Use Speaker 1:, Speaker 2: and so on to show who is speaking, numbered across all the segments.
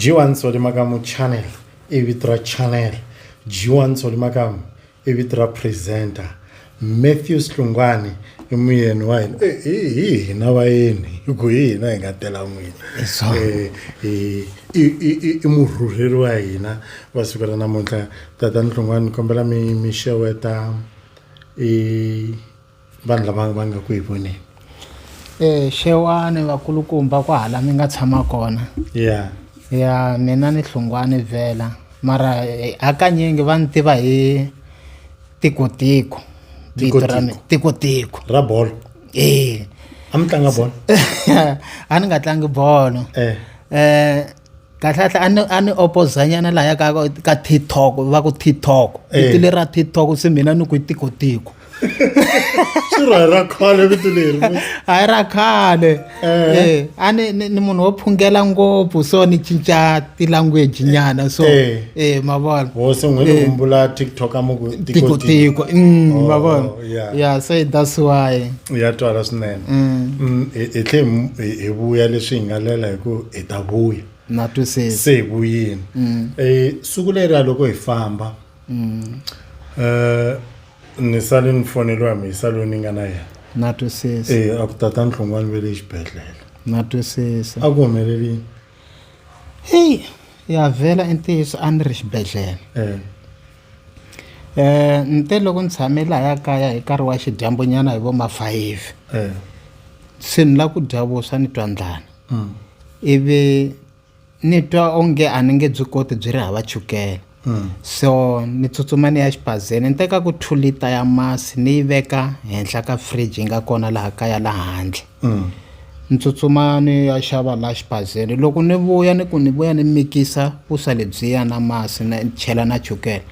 Speaker 1: g1 solimakamu channel i vito ra channel g1 solimakamu i vito ra presenter matthew slungwani i muyeni wa hina eh, hi hina vayeni hi ku hi hina hi nga tela n'wini eh, i murhurheri wa hina va sukela namuntlha tatani hlungwani ni kombela mi mi xeweta i vanhu lava va nga ku hi voneni e xewani vakulukumba ku hala mi nga tshama kona ya ya mina ni hlungwani vhela mara eh, hakanyingi va ni tiva hi tikotiko vito ra mina tikotiko ra bolo ee a mi tlanga bolo a ni nga tlangi bolo eh. eh kahlekahle a ni a ni opozanyana laya ka ka tiktok va ku tiktok eh. vito leri ra tiktok se mina ni ku tikotiko swirho hi ra khale vito leri a hi ra khale eh. Eh, a ni ni munhu wo phungela ngopfu so ni cinca ti-language nyana so e ma vona hosi n'wi ni kumbula tiktok a muku tikotiko mm, oh, ma vona ya se that's why ya twala swinene mm. Mm, hi tlhe hi vuya leswi hi nga lela hi ku hi ta vuya na twisisa se hi vuyini um siku leriya loko hi famba um ni sale ni foneliwa mhisa loyi ni nga na yena na twisisa e a ku tata nhlongwani ve le xibedhlele na twisisa a ku humelelini heyi ya vhela i ntiyiso a ni ri xibedhlele um ni te loko ni tshame lahaya kaya hi nkarhi wa xidyambunyana hi vo ma-five um se ni lava ku dya vuswa ni twa ndlana ivi ni twa onge a ni nge byi koti byi ri hava chukele so ni tsutsuma ni ya xibazeni ni teka ku two lita ya masi ni yi veka henhla ka fridge yi nga kona laha kaya la handle ni tsutsuma ni ya xava la xibazeni loko ni vuya ni ku ni vuya ni mikisa vuswa lebyiya na masi na chela na chukele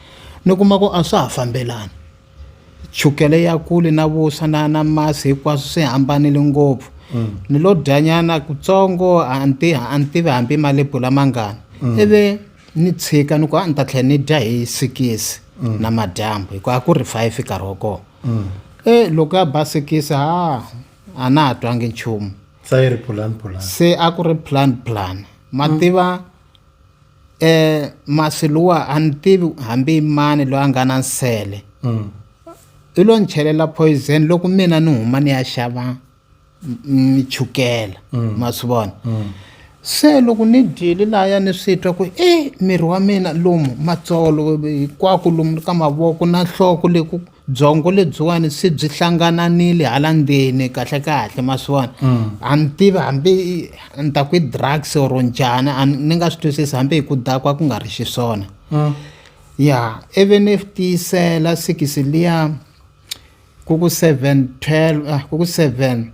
Speaker 1: ni kuma ku a swa ha fambelani chukele ya kule na vuswa na na masi hinkwaswo swi hambanile ngopfu mm. ni lo dyanyana kutsongo a ni tivi a ni tivi hambi malebula mangani mm. ivi ni tshika ni ku a ni ta tlhela ni dya hi sikisi mm. na madyambu hikuva a ku ri five nkarhi wa kona mm. e loko ya ba sikisi ha a na ha twangi nchumu se a ku ri plan plan ma mm. tiva mm. eh masi luwa a ni tivi hambi mani loyi a nga na nsele mm. i lo ni chelela poison loko mina ni huma ni ya xava ni chukela mm. ma swi vona mm. se loko ni dyile laya ni swi twa ku e miri wa mina lomu matsolo hinkwako lomu ka mavoko na nhloko leku byongo lebyiwani se byi hlangananile hala ndzeni kahle kahle ma swi vona mm. a ni tivi hambi ni ta ku i drugs or njhani ni nga swi twisisi hambi hi ku dakwa ku nga ri xiswona mm. ya even if tiyisela sikisi liya ku ku seven twelve ah, ku ku seven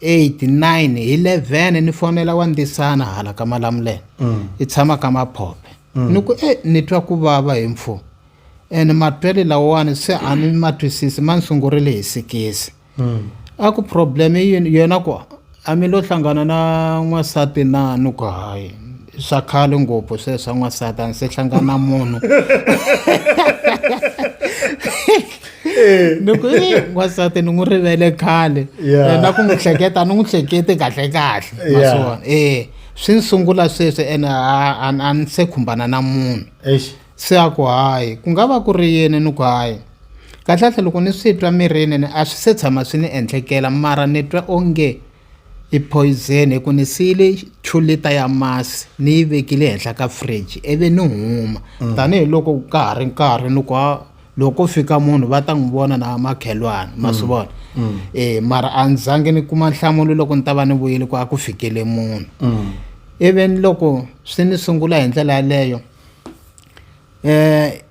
Speaker 1: eight nine hi eleven ni fonela wa ndisana hala ka malamulele mm. i tshama ka maphope ni ku e ni twa ku vava hi mfumo ene matwele lawawani se a ni ma twisisi ma ni sungurile hi sikisi hmm. a ku problem yena ku a mi lo hlangana na n'wansati na ni ku hayi swa khale ngopfu se swa n'wansati a ni se hlangana munhu ni ku n'wansati ni n'wi rivele khale na ku n'wi hleketa ni n'wi hleketi kahle kahle naswona e swi ni sungula sweswi ene a ni se khumbana na munhu Se a ku, Hayi, ku nga va ku ri yini ni ku hayi. Kahle-kahle loko ni swi twa mirini ni a swi se tshama swi ni endlekela mara ni twa onge i poyizeni hi ku ni siyile two liter ya masi ni yi vekile henhla ka fridge ivi ni huma mm. tanihiloko ka ha ri nkarhi ni ku loko ko fika munhu va ta n'wi vona na makhelwana ma swi mm. vona um mara a ni zange ni kuma nhlamulo loko ni ta va ni vuyile ku a ku fikele munhu even loko swi ni sungula hi ndlela yaleyo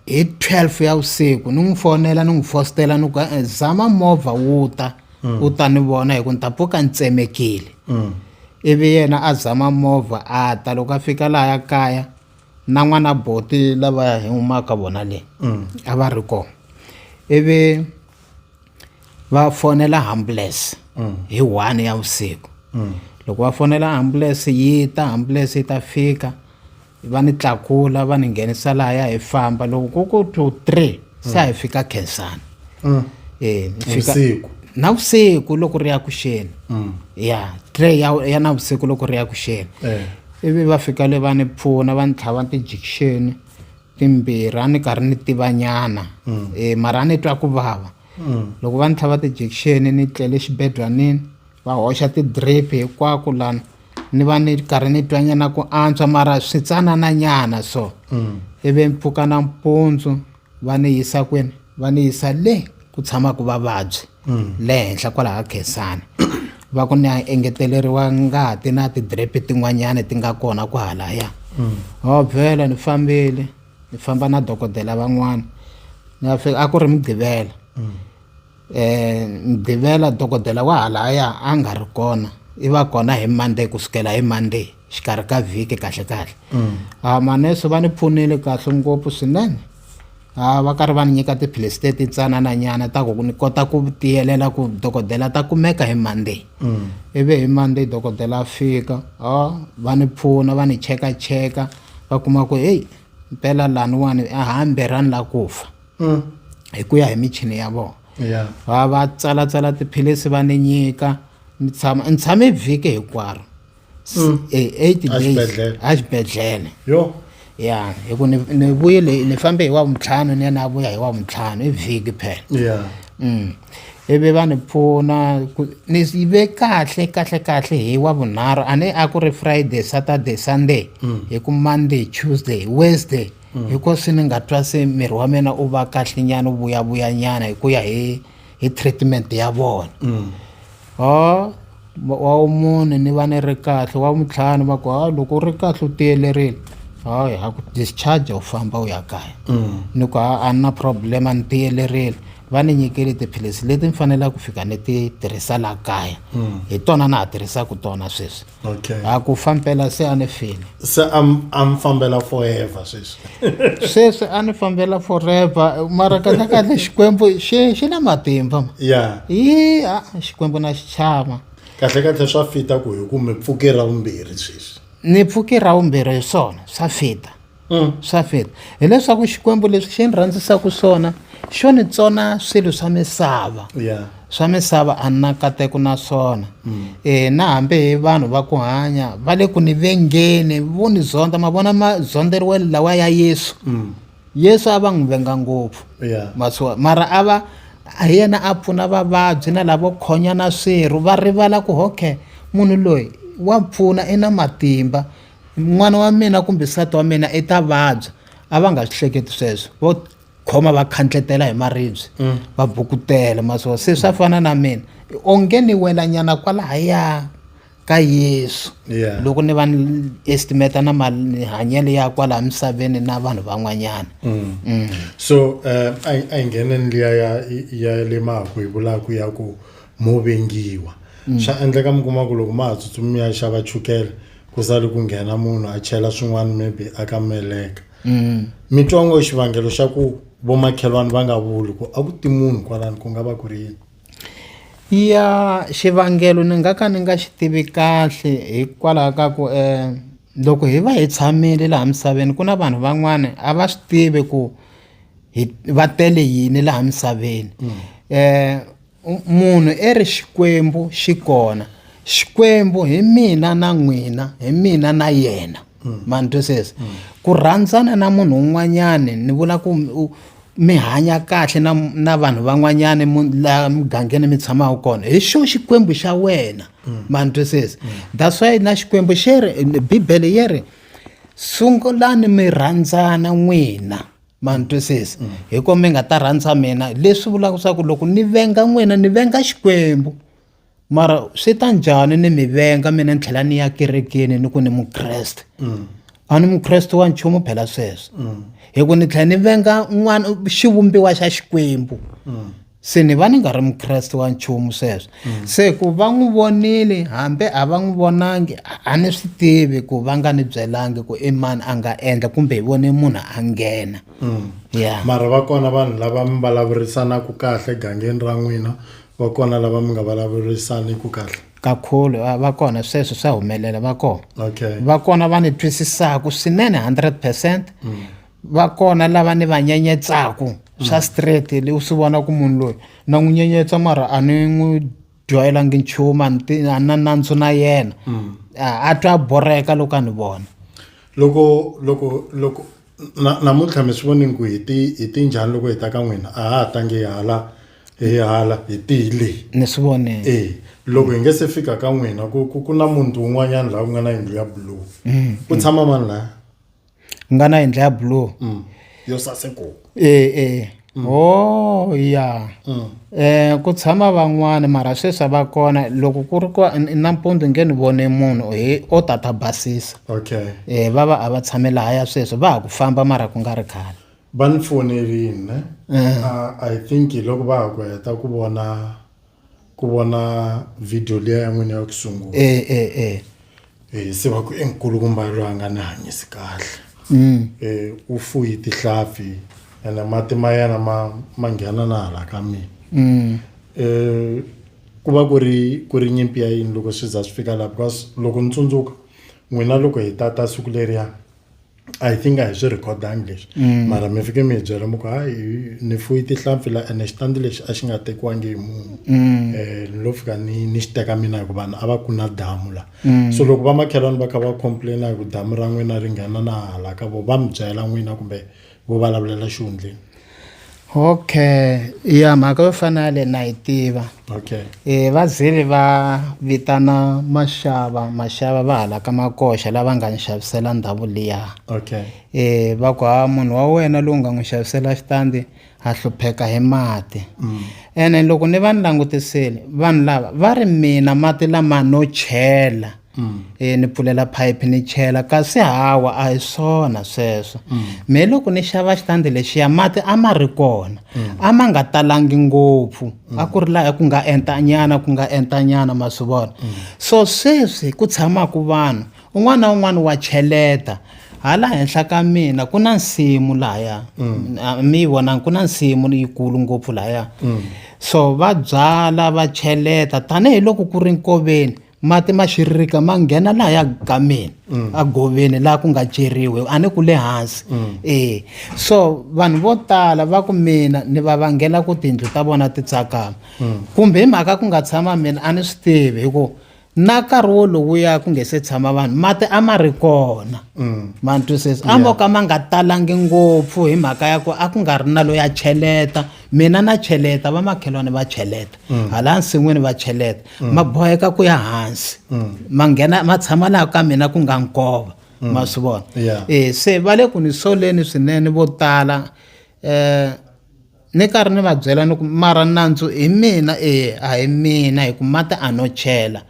Speaker 1: hi twelve ya vusiku ni n'wi fonela ni n'wi fositela ni ku eh, zama movha wu ta mm. u ta ni vona hi ku ni ta pfuka ni tsemekile mm. ivi yena a zama movha a ta loko a fika laha ya kaya na n'wana boti lava hi humaka vona le mm. a va ri kona ivi va fonela ambulance hi one ya vusiku loko va fonela ambulance yi ta ambulance yi ta fika va ni tlakula va ni nghenisa lahaya hi famba loko ku ku two three se a hi fika khensani um e vusiku na vusiku loko ri ya ku xeni mm. ya tray ya ya na vusiku loko ri ya ku xeni eh. ivi va fika le va ni pfuna va ni tlhava tijikixeni timbirhi a ni karhi ni tivanyana um mm. eh, mara a ni twa ku vava loko va ni tlhava ti-injection ni tlele xibedlhanini va hoxa ti-drip hinkwako lana ni va ni karhi ni twa nyana ku antswa mara switsanana nyana so mm. ivi mpfuka nampundzu va ni yisa kwini va ni yisa le ku tshamaka vavabyi mm. le henhla kwalaha khensani va ku ni a engeteleriwa ngati na ti-drip tin'wanyana ti nga kona ku halaya mm. o vhela ni fambile ni famba na dokodela van'wana ni ya fika a ku ri mugqivela um mugqivela dokodela wa halaya a nga ri kona i va kona hi monday ku sukela hi monday xikarhi ka vhiki kahle kahle mm. a ah, manese va ni pfunile kahle ngopfu swinene a ah, va karhi va ni nyika tiphilisi teti tsanana nyana ta ku ni kota ku tiyelela ku dokodela ta kumeka hi monday mm. ivi hi monday dokodela a fika a ah, va ni pfuna va ni cheka cheka va kuma ku heyi mpela laniwani a hambirhani la ku fa mm. hi ku ya hi michini ya vona va va tsalatsala tiphilisi va ni nyika ni tshama ni tshame vhiki hinkwaro mm. e, eight days exibedhlele ya hi ku ni vuyile ni fambe hi wa vuntlhanu ni ya ni ya vuya hi wa vuntlhanu i vhiki phela mm. ivi va ni pfuna ku ni yive kahle kahle kahle hi wa vunharhu a ni a ku ri friday saturday sunday mm. hi ku monday tuesday wednesday mm. hiko swi ni nga twa se miri wa mina u va kahle nyana u vuyavuya nyana hi ku ya hi hi treatment ya vona mm. o oh, wa vumune ni va ni ri kahle wa vutlhanu va ku ha loko u ri kahle u tiyelerile hayi ha ku discharge u famba u ya kaya mm. ni ku ha a ni na problem a ni tiyelerile va ni nyikele tiphilisi leti ni fanelaka ku fika ni ti tirhisa la kaya mm. hi tona na ha tirhisaka tona sweswi a ku fambela se a ni file se a mi fambela forever sweswi sweswi a ni fambela forever mara kahle kahle xikwembu xi xi na matimba ya yi a xikwembu na xi chava kahle kahle swa fita ku hi ku mi pfuke ra vumbirhi sweswi ni pfuke ra vumbirhi hi swona swa fita mm. swa fita hileswaku xikwembu leswi xi ni rhandzisaka swona xo ni tsona swilo swa misava swa misava a ni na nkateko na swona um na hambi hi vanhu va ku hanya va le ku ni vengeni vo ni zonda ma vona mazonderiwelo lawa ya yesu mm. yesu a va n'wi venga ngopfu masiwa mara a va hi yena a pfuna vavabyi na lavo khonya na swirho va rivala ku okay munhu loyi wa pfuna i na matimba n'wana wa mina kumbe nsati wa mina i ta vabya a va nga swi hleketi sweswo vo khoma va khandletela hi maribye mm. va bukutela maswo se swa fana na mina onge ni welanyana kwalahaya ka yesu yeah. loko ni va ni estimata na mahanyelo ya kwalaha misaveni na vanhu van'wanyana mm. mm. so um a yi nghene ni liya ya ya le maku hi vulaku ya ku mo vengiwa mm. swa endleka mi kuma ku loko ma ha tsutsumi ya xava chukele ku sali ku nghena munhu a chela swin'wana maybe a ka meleka mm. mi twa ngo xivangelo xa ku vomakhelwani va nga vuli ku a ku ti munhu kwalani ku nga va ku ri yini ya xivangelo ni nga ka ni nga xi tivi kahle hikwalaho ka ku um loko hi va hi tshamile laha misaveni ku na vanhu van'wana a va swi tivi ku hi va tele yini laha misaveni um Munhu i ri Xikwembu xi kona. Xikwembu hi mina na n'wina, hi mina na yena. Mm. Ma ni twisisa? Mm. Ku rhandzana na munhu un'wanyani ni vula ku mi hanya kahle na na vanhu van'wanyana la mugangeni mi tshamaka kona hi xo xikwembu xa wena mm. ma ni twisisa that's why na xikwembu xi ri bibele yi ri sungulani mi rhandzana n'wina ma ni twisisa mm. hi ko mi nga ta rhandza mina leswi vulaka leswaku loko ni venga n'wina ni venga xikwembu mara swi ta njhani ni mi venga mina ni tlhela ni ya kerekeni ni ku ni mukreste mm. a ni mukreste wa nchumu phela sweswo mm. hi ku ni tlhela ni venga n'wana xivumbiwa xa xikwembu se ni va ni nga ri mukreste wa nchumu sweswo mm. se ku va n'wi vonile hambi a va n'wi vonangi a ni swi tivi ku va nga ni byelangi ku i mani a nga endla kumbe hi vone munhu a nghena mm. ya mara va kona vanhu lava mi vulavurisanaka kahle gangeni ra n'wina va kona lava mi nga vulavurisaniku kahle kakhulu va kona sweswo swa humelela va kona okay va kona va ni twisisaka swinene hundred percent mm. va kona lava ni va nyenyetsaku swa straight leyi u swi vona ku munhu loyi na n'wi nyenyetsa mara a ni n'wi dyoyelangi nchumu a ni ti- a ni na nandzu na yena a a twa a borheka loko a ni vona loko loko loko na- namuntlha mi swi vonini ku hi ti hi ti njhani loko hi ta ka n'wina a ha ha tangi hi hala hi hala hi tihi leyi ni swi vonile e loko hi nge se fika ka n'wina ku ku ku na muti wun'wanyana laha ku nga na yindlu ya blue ku tshama mani laya ku nga na yindlu ya blue Mm. yo saseko Eh eh. Oh ya. Eh ku tshama van'wana mara sweswi a va kona loko ku ri ku nampundzu nge ni vone munhu he o tata basisa. okay Eh va va a va tshame laha ya sweswi va ha ku famba mara ku nga ri khale. va ni fonerile ne Ah, i think loko va ha ku heta ku vona ku vona video liya ya n'wina ya ku sungula e e e Eh, se va ku enkulukumba loyi a nga ni hanyisi kahle Mm. Eh, u fuyi tihlampfi ene mati ma yena ma ma nghena na hala ka mina Mm. Eh, ku va ku ri ku ri nyimpi ya yini loko swi za swi fika laha because loko ni tsundzuka n'wina loko hi tata siku leriya i think a hi swi rhikhodangi leswi mm. mara mi fike mi hi byela mi ku hayi ni fuyi tihlampfi la ene xitandi lexi a xi nga tekiwangi hi munhu um ni lo fika ni ni xi teka mina hikuva vanhu a va ku na damu la mm. so loko vamakhelwani va kha va complaina hi ku damu ra n'wina ri nghena na hala ka vo va mi byela n'wina kumbe vo vulavulela xihundleni okay ya mhaka yo fana ya le na yi tiva okay e va zili va vitana maxava maxava va hala ka makoxa lava nga ni xavisela ndhawu liya okay e va ku ha munhu wa wena lowu nga n'wi xavisela xitandi a hlupheka hi mati mm. ene loko ni va ni langutisile vanhu lava va ri mina mati lama no chela Mm. e ni pfulela phayiphi ni chela kasi hawa a hi swona sweswo mm. me loko ni xava xitandi lexiya mati a ma ri kona mm. a ma nga talangi ngopfu a ku ri laha ku nga entanyana ku nga entanyana ma swi vona so sweswi ku tshamaka vanhu un'wana na un'wana wa cheleta hala henhla ka mina ku na nsimu lahaya mi yi vonangi ku na nsimu yikulu ngopfu lahaya so va byala va cheleta tanihiloko ku ri nkoveni mati ma xiririka ma nghena laha ya gameni mm. a goveni laha ku nga ceriwe a ni ku le hansi mm. e so vanhu vo tala va ku mina ni va vangela ku tiyindlu ta vona ti tsakama mm. kumbe hi mhaka ku nga tshama mina a ni swi tivi hi ku na nkarhi wolowuya ku nge se tshama vanhu mati a ma ri kona mm. ma ni twisisa a mo ka ma nga talangi ngopfu hi mhaka ya ku a ku nga ri na loyi a cheleta mina na cheleta vamakhelwani va cheleta mm. hala nsin'wini va cheleta mm. ma boheka ku ya hansi mm. ma nghena ma tshama laha ka mina ku nga nkova ma swi vona e se va le ku ni soleni swinene vo tala um ni karhi ni va byela ni ku mara nandzu hi mina e a hi mina hi ku mati a no chela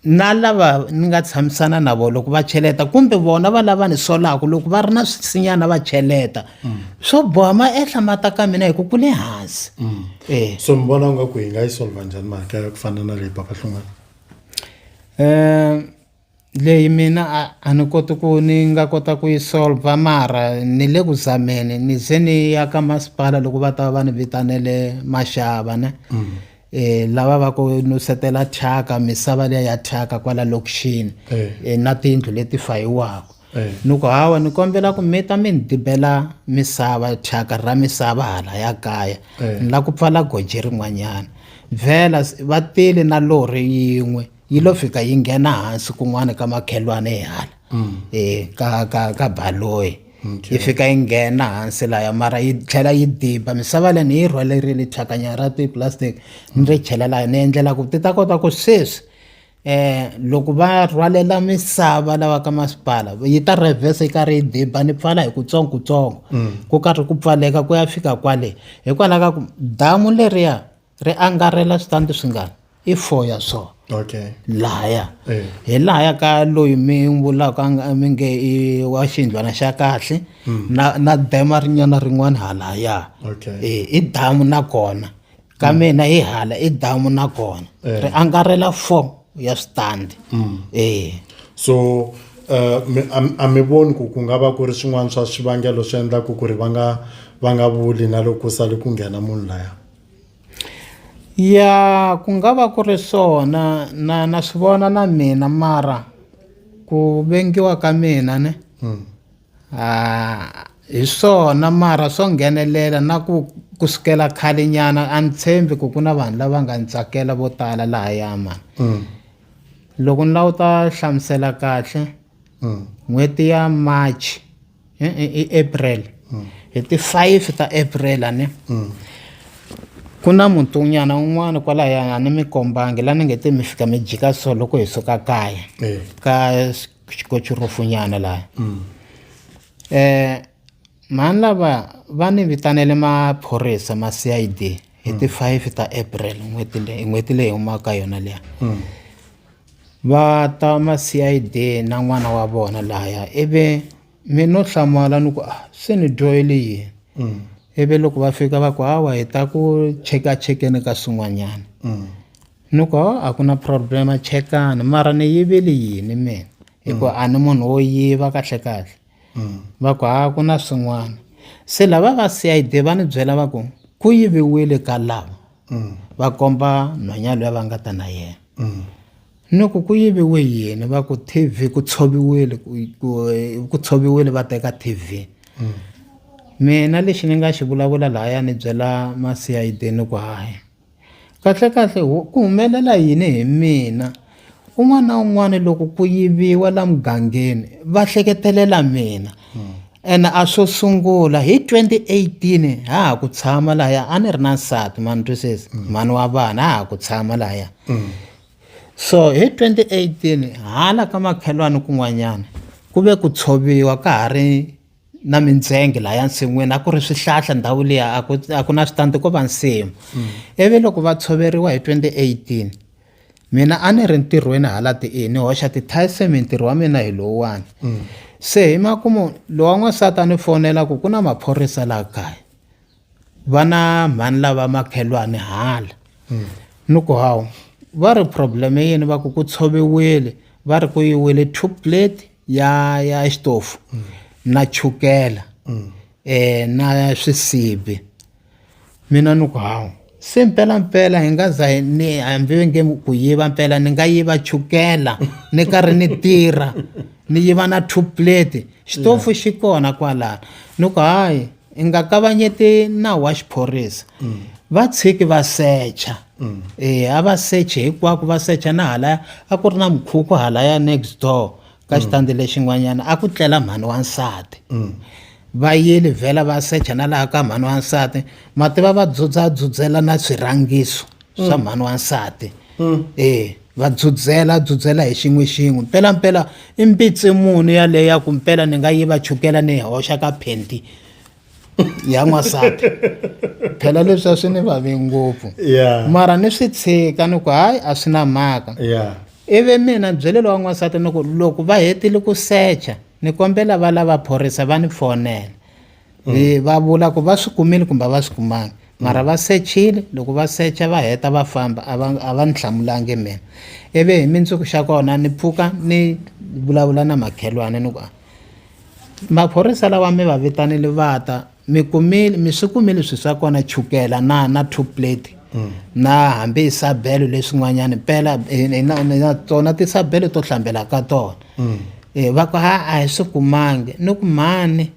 Speaker 1: na lava ni nga tshamisana na vona loko va cheleta kumbe vona va lava ni solaka loko va ri na swisinyana va cheleta mm. swo boha ma ehla mata ka mina hi ku ku le hansi mm. eh. so mi vona nga ku hi nga yi solva njhani mhaka ya ku fana na leyi papa hlungwana um eh, leyi mina a ni koti ku ni nga kota ku yi solva mara ni le ku zameni ni ze ni ya ka masipala loko va ta va va ni vitanele maxava ne mm. eh lava va ku nusetela thyaka misava leya ya thyaka kwala lokixini eh. eh na tindlu leti fayiwaka eh. ni ku hawa ni kombela ku mi ta mi ni dibela misava thyaka ra misava hala ya kaya eh. ni la ku pfala goji rin'wanyana vhela va tele na lori yin'we yi lo fika yi nghena hansi kun'wana ka makhelwane hi hala mm. e ka ka ka baloyi yi fika yi nghena hansi laya mara yi tlhela yi diba misava leyi ni yi rhwalerile thyakanya ra tiplastic ni ri chela laya ni endlela ku ti ta kota ku sweswi eh loko va rhwalela misava lawa ka masipala yi ta reverse yi karhi yi diba ni pfala hi kutsongo kutsongo mm. ku karhi ku pfaleka ku ya fika kwale hikwalaho ka ku damu leriya ri angarhela switandi swingani i four ya so okay lahaya eh. hi lahaya ka loyi mi vulaka mi nge i wa xiyindlwana xa kahle hmm. na na dema rinyana rin'wana halaya okay eh, i damu na kona ka hmm. mina hi hala i damu na kona eh. ri angarhela four ya switandi hmm. eh so Eh, a mi voni ku ku nga va ku ri swin'wana swa swivangelo swi endlaka ku ri va nga va nga vuli na loko sale ku nghena munhu laya Ya ku nga va ku ri swona na na swi vona na mina mara ku vengiwa ka mina ne a hi swona mara swo nghenelela na ku ku sukela khale nyana a ni tshembi ku ku na vanhu lava nga ni tsakela vo tala lahaya mhani loko ni lawuta hlamusela kahle n'hweti ya March. i april hi ti five ta april a ni ku na mutunyana un'wana kwalaya a ni mi kombangi la ni nge te mi fika mi jika so loko hi suka kaya Eh. ka xikochurufunyana laya um mhani lava va ni vitanele maphorisa ma c i d hi ti five ta april n'hweti leyi n'hweti leyi humaka yona liya Va ta ma-C_I_D na n'wana wa vona laya ivi mi no hlamala ni ku a se ni dyohele yini mm. ivi loko va fika va ku hawa hi ta ku cheka chekeni ka swin'wanyana mm. ni ku a ku na problem chekani mara ni yivile yini mina hikuva mm. a ni munhu wo yiva kahle kahle va ku ha ku na swin'wana se lava va CID va ni byela va ku ku yiviwile ka lava va komba nhwanya loyi va nga ta na yena ni ku ku yiviwe yini va ku TV ku tshoviwile ku tshoviwile va teka TV mina lexi ni nga xi vulavula lahaya ni byela ma CID ni ku hayi Kahlekahle ku humelela yini hi mina? Un'wana na un'wana loko ku yiviwa la mugangeni va hleketelela mina ene a swo sungula hi 2018 ha ha ku tshama lahaya a ni ri na nsati ma ni twisisa mhani wa vana ha ha ku tshama lahaya so hi 2018 hala ka makhelwani kun'wanyana ku ve ku tshoviwa ka ha ri na mintsenge laha nsin'wini a ku ri swihlahla ndhawu liya a ku a ku na switandi ko va nsimu mm. ivi loko va tshoveriwa hi 2018 mina a ni ri ntirhweni hala ti-e ni hoxa ti-tysame ntirho wa mina hi lowuwani mm. se hi makumu lowa n'wansati a ni fonela ku ku na maphorisa laha kaya va na mhani lava makhelwani hala ni ku hawu va ri problem yini va ku ku tshoviwile va ri ku yiwile two plate ya ya xitofu na chukela um na swisibi mina ni ku hawu se mpela mpela hi nga za ni hambi ve nge ku yiva mpela ni nga yiva chukela ni karhi ni tirha ni yiva na two plate xitofu yeah. xi kona kwalana ni ku hayi i nga kavanyeti nawu wa xiphorisa mm. va tshiki va secha mm. e a va seche hinkwako va secha na halaya a ku ri na mukhukhu halaya next door ka mm. xitandi lexin'wanyana a ku tlela mhani wa nsati mm. va yile vhela va secha na laha ka mhani wa nsati mativa va dzudzadzudzela na swirhangiso mm. swa mhani wa nsati e va dzudzela dzudzela hi xin'we xin'we mpelampela i mpitsi muni yaleyo ya ku mpela ni nga yi va chukela ni hoxa ka phenti ya n'wansati phela leswi a swi ni vavi ngopfu mara ni swi tshika ni ku hayi a swi na mhaka ivi mina byelelo wa n'wansati ni ku loko va hetile ku secha ni kombela va lava phorisa va ni fonela mm. va vula ku va swi kumile kumbe va swi kumanga mara va sechile loko va secha va heta va famba a va a va ni hlamulangi mina ivi hi mindzuku xa kona ni pfuka ni vulavula na makhelwane ni ku Maphorisa lawa mi va vitanile va ta mi kumile mi swi kumile swi swa kona chukela na na two plate mm. na hambi isabelo leswin'wanyana pela eh, eh, na tona tisabelo to hlambela ka tona mm. eh, va ku ha a hi swi kumangi ni ku mhani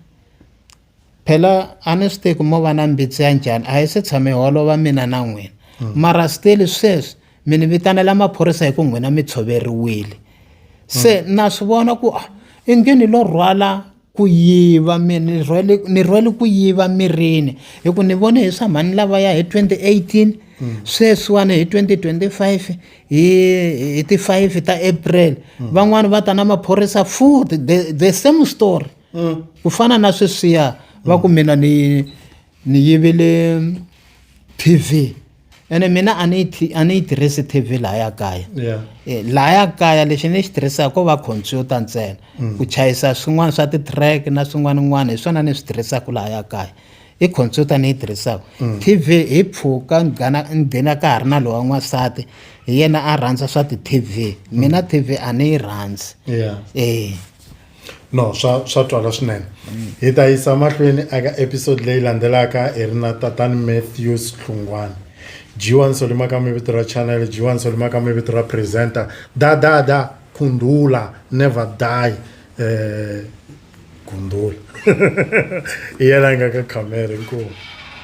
Speaker 1: phela a ni swi teki mo va na mbitsi ya njhani a hi se tshame holova mina na n'wina hmm. mara steli sweswi mi ni vitanela maphorisa hi ku n'wina mi tshoveriwile se hmm. na swi vona ku ah, i nge ni lo rhwala ku yiva ni rhwele ku yiva mirini hi ku ni vone hi swa mhani lavaya hi 2018 hmm. sweswiwani hi 2025 hi hi ti 5 ta april van'wani va ta na maphorisa futhi the same story mm. ku fana na sweswiya va ku mina ni ni yivile tv ene mina a ni a ni yi tirhisi tv lahaya kaya eh, lahaya kaya lexi ni xi tirhisaka ko va computer ntsena mm. ku chayisa swin'wana swa ti-track na swin'wanan'wana hi swona ni swi tirhisaka lahaya kaya i computer ni yi tirhisaka mm. tv hi pfuka ni nghena ka ha ri na lowa n'wansati hi yena a rhandza swa ti-tv mm. mina tv a ni yi rhandzi e no swa swa twala swinene hi ta yisa mahlweni eka episode leyi landzelaka hi ri na tatani matthews hlungwana jiwani solima ka mi vito ra channel jiwani solima ka mi vito ra presenter dadada khundula never die eh khundula i yena a nga ka camera inkomu